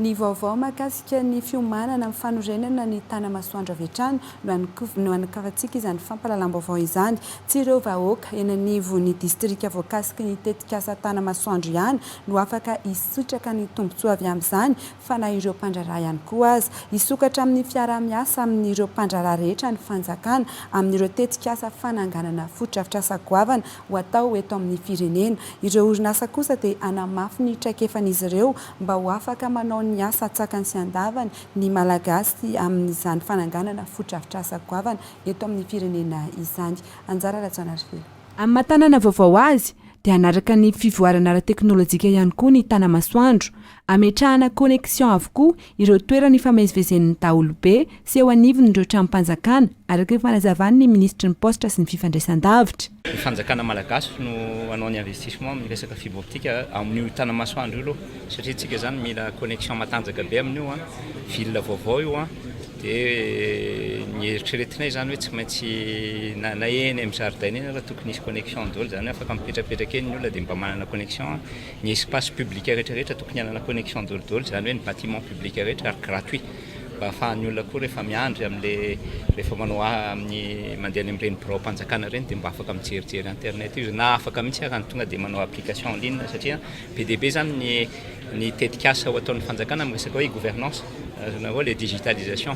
Ny vaovao mahakasika ny fiomanana amin'ny fanorenana ny Tanamasoandro avy hatrany no hanakiantsika izany fampahalalam-baovao izany. Tsy ireo vahoaka eny anivon'ny distrika voakasiky ny tetikasa Tanamasoandro ihany no afaka hisitraka ny tombontsoa avy amin'izany fa na ireo mpandraharaha ihany koa aza. Hisokatra amin'ny fiaraha-miasa amin'ireo mpandraharaha rehetra ny fanjakana amin'ireo tetikasa fananganana fotodrafitrasa goavana ho atao eto amin'ny firenena. Ireo orinasa kosa dia hanamafy ny traikefan'izy ireo mba ho afaka manao ny asa an-tsakany sy an-davany ny Malagasy amin'izany fananganana fotodrafitrasa goavana eto amin'ny firenena izany. Anjara Rajaonarivelo. Amin'ny maha tanàna vaovao azy, dia hanaraka ny fivoarana ara-teknolojika ihany koa ny Tanamasoandro, Ametrahana connexion avokoa ireo toerana ifamezivezen'ny daholobe sy eo anivon'ireo tranom-panjakana, araka ny fanazavan'ny minisitry ny Paositra sy ny Fifandraisandavitra. Ny fanjakana malagasy no hanao ny investissement amin'ny resaka fibre optique amin'io Tanamasoandro io aloha satria antsika izany mila connexion matanjaka be amin'io an, ville vaovao io an, dia ny eritreretinay izany hoe tsy maintsy na na eny amin'ny zaridaina eny ary tokony hisy connexion daholo izany hoe afaka mipetrapetraka eny ny olona dia mba manana connexion Ny espace public rehetra rehetra tokony hanana connexion daholo izany hoe ny bâtiment public rehetra ary gratuit mba afahan'ny olona koa rehefa miandry amle rehefa manao amin'ny mandeha any amin'ireny biraom-panjakana ireny dia mba afaka mijerijery internet io na afaka mihitsy ary ny tonga dia manao application en ligne satria be dia be izany ny ny tetikasa ho ataon'ny fanjakana amin'ny resaka hoe gouvernance azonareo le digitalisation